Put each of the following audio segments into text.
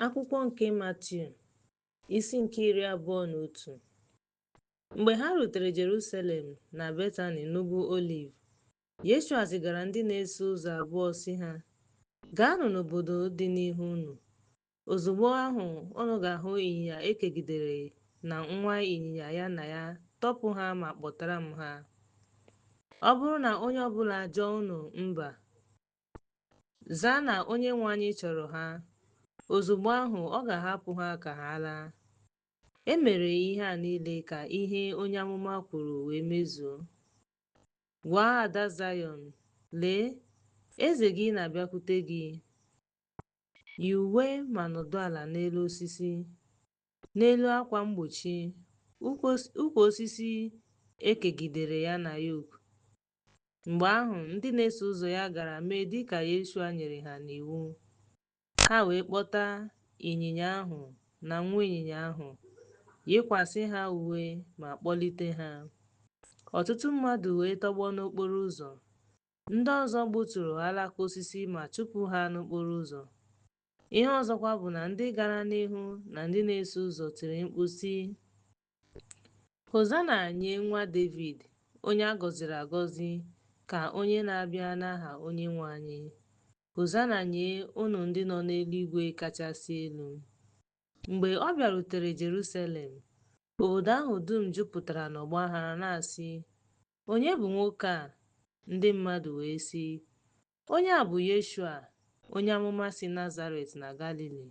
Akwụkwọ nke Matiu isi nke iri abụọ na otu Mgbe ha rutere Jerusalem na Betani n'ugwu Oliv, Yeshua zigara ndị na-eso ụzọ abụọ sị ha, Gaanụ n'obodo dị n'ihu unu. Ozugbo ahụ unu ga-ahụ ịnyịnya ekegidere na nwa ịnyịnya ya na ya, tọpụ ha ma kpọtara m ha. Ọ bụrụ na onye ọbụla ajụọ unu mba, Zaa na Onyenwe anyị chọrọ ha. Ozugbo ahụ, ọ ga-ahapụ ha ka ha laa. E mere ihe a niile ka ihe onye amụma kwuru wee mezuo. Gwa ada Zayọn, Lee, eze gị na-abịakwute gị. Yi uwe ma nọdụ ala n'elu osisi, n'elu akwa mgbochi, ukwu osisi ekegidere ya na yok, Mgbe ahụ, ndị na-eso ụzọ ya gara mee dị ka Yeshua nyere ha n'iwu. Ha wee kpọta ịnyịnya ahụ na nwa ịnyịnya ahụ, yikwasị ha uwe ma kpọlite ha. Ọtụtụ mmadụ wee tọgbọ n'okporo ụzọ. Ndị ọzọ gbuturu alaka osisi ma chụpụ ha n'okporo ụzọ. Ihe ọzọkwa bụ na ndị gara n'ihu na ndị na-eso ụzọ tiri mkpu, sị, Hozana nye nwa Devid, onye a gọziri agọzi, ka onye na-abịa n'aha Onyenwe anyị. Hozana nye unu ndị nọ n'eluigwe kachasị elu. Mgbe ọ bịarutere Jerusalem, obodo ahụ dum jupụtara n'ọgba aghara na-asị, Onye bụ nwoke a? Ndị mmadụ wee sị, Onye a bụ Yeshua, onye amụma si Nazaret na Galili.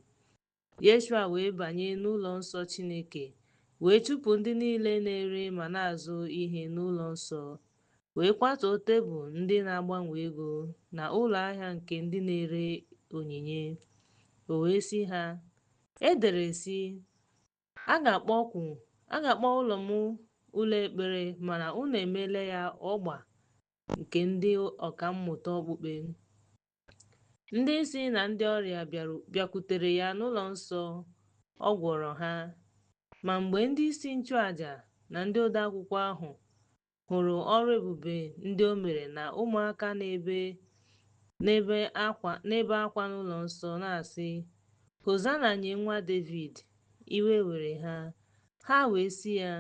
Yeshua wee banye n'ụlọ nsọ Chineke, wee chụpụ ndị niile na-ere ma na-azụ ihe n'ụlọ nsọ, wee kwatuo tebụl ndị na-agbanwe ego na ụlọ ahịa nke ndị na-ere onyinye. O wee sị ha, E dere, sị, A ga-akpọ ụlọ m ụlọ ekpere, mana unu emeela ya ọgba nke ndị ọka mmụta okpukpe. Ndị isi na ndị ọrịa bịakwutere ya n'ụlọ nsọ, ọ gwọrọ ha. Ma mgbe ndị isi nchụaja na ndị odeakwụkwọ ahụ hụrụ ọrụ ebube ndị o mere na ụmụaka na-ebe akwa n'ụlọ nsọ na-asị hozana nye nwa David iwe were ha ha wee sị ya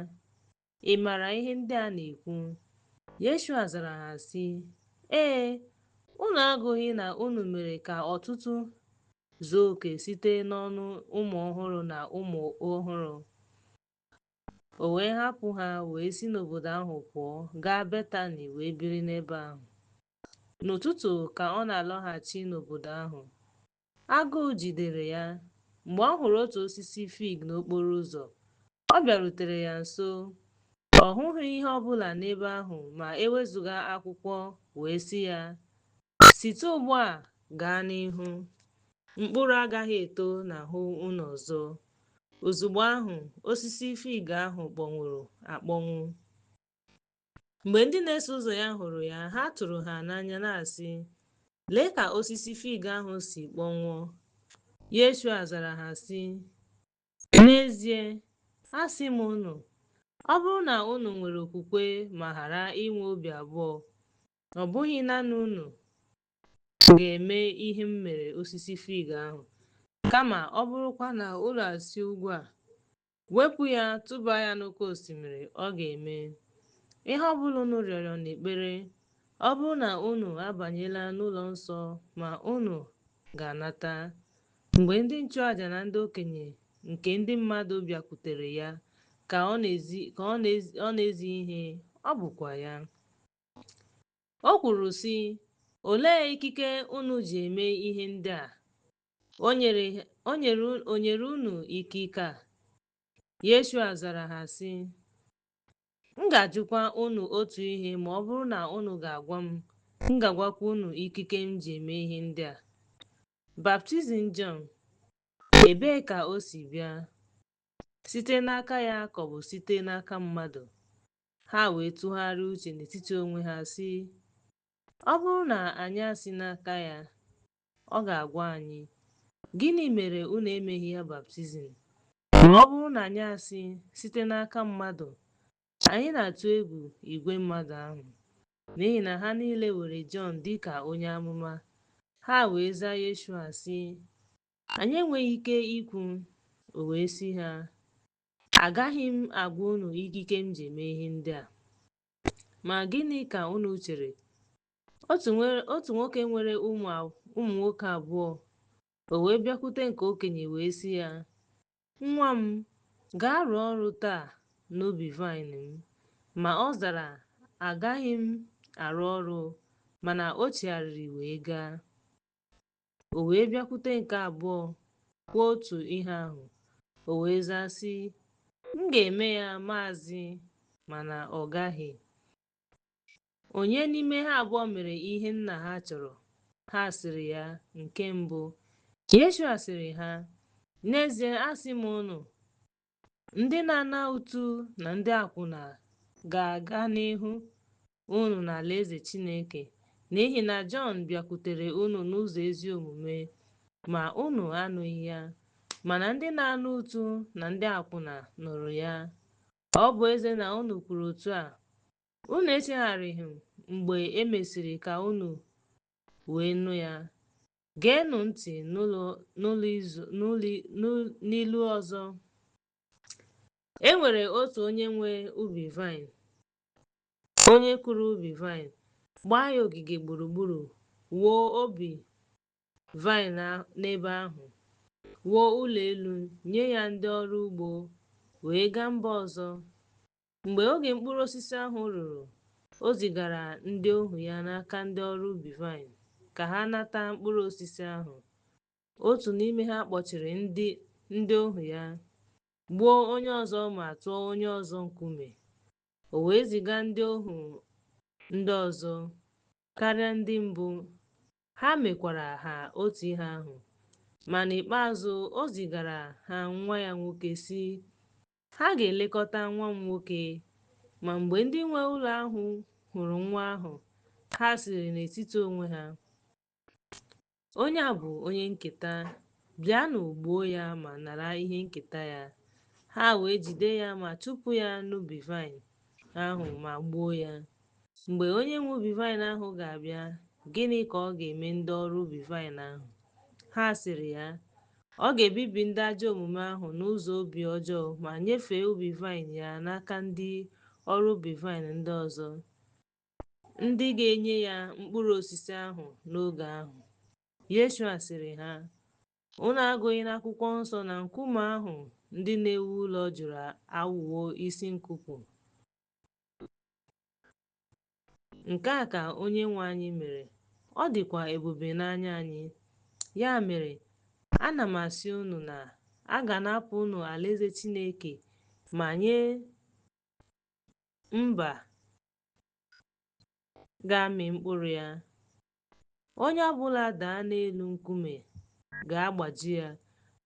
Ị maara ihe ndị a na-ekwu? Yeshua zara ha sị, Ee, unu agụghị na unu mere ka otuto zuo oke site n'ọnụ ụmụ ọhụrụ na ụmụ ọhụrụ. O wee hapụ ha wee si n'obodo ahụ pụọ gaa Betani wee biri n'ebe ahụ. N'ụtụtụ ka ọ na-alọghachi n'obodo ahụ, Agụụ jidere ya. Mgbe ọ hụrụ otu osisi fig n'okporo ụzọ, ọ bịarutere ya nso. Ọ hụghị ihe ọ bụla n'ebe ahụ ma e wezụga akwụkwọ, wee sị ya, Site ugbu a gaa n'ihu, mkpụrụ agaghị eto n'ahụ unu ọzọ. Ozugbo ahụ, osisi fig ahụ kpọnwụrụ akpọnwụ. Mgbe ndị na-eso ụzọ ya hụrụ ya, ha tụrụ ha n'anya na-asị, Lee ka osisi fig ahụ si kpọnwụọ. Yeshua zara ha sị, N'ezie, asị m unu, ọ bụrụ na unu nwere okwukwe ma ghara inwe obi abụọ, ọ bụghị nanị unu ga-eme ihe m mere osisi fig ahụ, kama ọ bụrụkwa na unu asị ugwu a, Wepụ ya, tụba ya n'oke osimiri, ọ ga-eme. Ihe ọ bụla unu rịọrọ n'ekpere, ọ bụrụ na unu abanyela n'ụlọ nsọ ma unu ga-anata. Mgbe ndị nchụaja na ndị okenye nke ndị mmadụ bịakwutere ya ka ọ na-ezi ihe, ọ bụkwa ya. O kwuru, sị, Olee ikike unu ji eme ihe ndị a? Onye nyere unu ikike a? Yeshua zara ha sị, M ga-ajụkwa unu otu ihe ma ọ bụrụ na unu ga-agwa m, m ga-agwakwa unu ikike m ji eme ihe ndị a. Baptizim Jọn, ebee ka o si bịa? Site n'aka ya ka ọ bụ site n'aka mmadụ? Ha wee tụgharịa uche n'etiti onwe ha sị, Ọ bụrụ na anyị asị n'aka ya, Ọ ga-agwa anyị, Gịnị mere unu emeghị ya baptizim? Ma ọ bụrụ na anyị asị site n'aka mmadụ, anyị na-atụ egwu igwe mmadụ ahụ, n'ihi na ha niile were Jọn dị ka onye amụma. Ha wee zaa Yeshua, sị, Anyị enweghị ike ikwu. O wee sị ha, Agaghị m agwa unu ikike m ji eme ihe ndị a. Ma gịnị ka unu chere? Otu nwoke nwere ụmụ nwoke abụọ. O wee bịakwute nke okenye wee sị ya, Nwa m, gaa rụọ ọrụ taa n'ubi vaịn m. Ma ọ zara, Agaghị m arụ ọrụ. Mana o chigharịrị wee gaa. O wee bịakwute nke abụọ kwuo otu ihe ahụ. O wee zaa sị, M ga-eme ya maazị, mana ọ gaghị. Onye n'ime ha abụọ mere ihe nna ha chọrọ? Ha sịrị ya, Nke mbụ. Yeshua sịrị ha, N'ezie asị m unu, ndị na-ana ụtụ na ndị akwụna ga-aga n'ihu unu n'alaeze Chineke, n'ihi na Jọn bịakwutere unu n'ụzọ ezi omume, ma unu anụghị ya, mana ndị na-ana ụtụ na ndị akwụna nụrụ ya. Ọ bụ ezie na unu kwuru otu a, Unu echegharịghị mgbe e mesịrị ka unu wee nụ ya. Geenụ ntị n'ilu ọzọ. E nwere otu onye nwe ubi vaịn, onye kụrụ ubi vaịn, gbaa ya ogige gburugburu, wuo obi vaịn n'ebe ahụ, wuo ụlọ elu, nye ya ndị ọrụ ugbo, wee gaa mba ọzọ. Mgbe oge mkpụrụ osisi ahụ ruru, o zigara ndị ohu ya n'aka ndị ọrụ ubi vaịn ka ha nata mkpụrụ osisi ahụ. Otu n'ime ha kpọchiri ndị ohu ya, gbuo onye ọzọ ma tụọ onye ọzọ nkume. O wee ziga ndị ohu ndị ọzọ karịa ndị mbụ, ha mekwara ha otu ihe ahụ. Ma n'ikpeazụ, o zigara ha nwa ya nwoke sị Ha ga-elekọta nwa m nwoke. Ma mgbe ndị nwe ụlọ ahụ hụrụ nwa ahụ, ha sịrị n'etiti onwe ha, Onye a bụ onye nketa, bịanụ gbuo ya ma nara ihe nketa ya. Ha wee jide ya ma chụpụ ya n'ubi vaịn ahụ ma gbuo ya. Mgbe onye nwe ubi vaịn ahụ ga-abịa, gịnị ka ọ ga-eme ndị ọrụ ubi vaịn ahụ? Ha sịrị ya, Ọ ga-ebibi ndị ajọ omume ahụ n'ụzọ obi ọjọọ ma nyefee ubi vaịn ya n'aka ndị ọrụ ubi vaịn ndị ọzọ, ndị ga-enye ya mkpụrụ osisi ahụ n'oge ahụ. Yeshua sịrị ha, Unu agụghị n'akwụkwọ nsọ na nkume ahụ ndị na-ewu ụlọ jụrụ aghọwo isi nkuku. Nke a ka Onyenwe anyị mere, ọ dịkwa ebube n'anya anyị. Ya mere, ana m asị unu na a ga-anapụ unu alaeze Chineke ma nye mba ga-amị mkpụrụ ya. Onye ọbụla daa n'elu nkume ga-agbaji ya,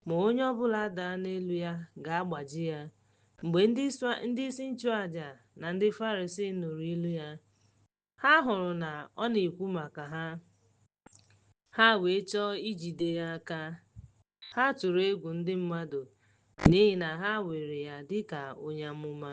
ma onye ọbụla daa n'elu ya ga-agbaji ya. Mgbe ndị isi nchụaja na ndị Farisii nụrụ ilu ya, ha hụrụ na ọ na-ekwu maka ha, ha wee chọọ ijide ya aka. Ha tụrụ egwu ndị mmadụ n'ihi na ha weere ya dịka onye amụma.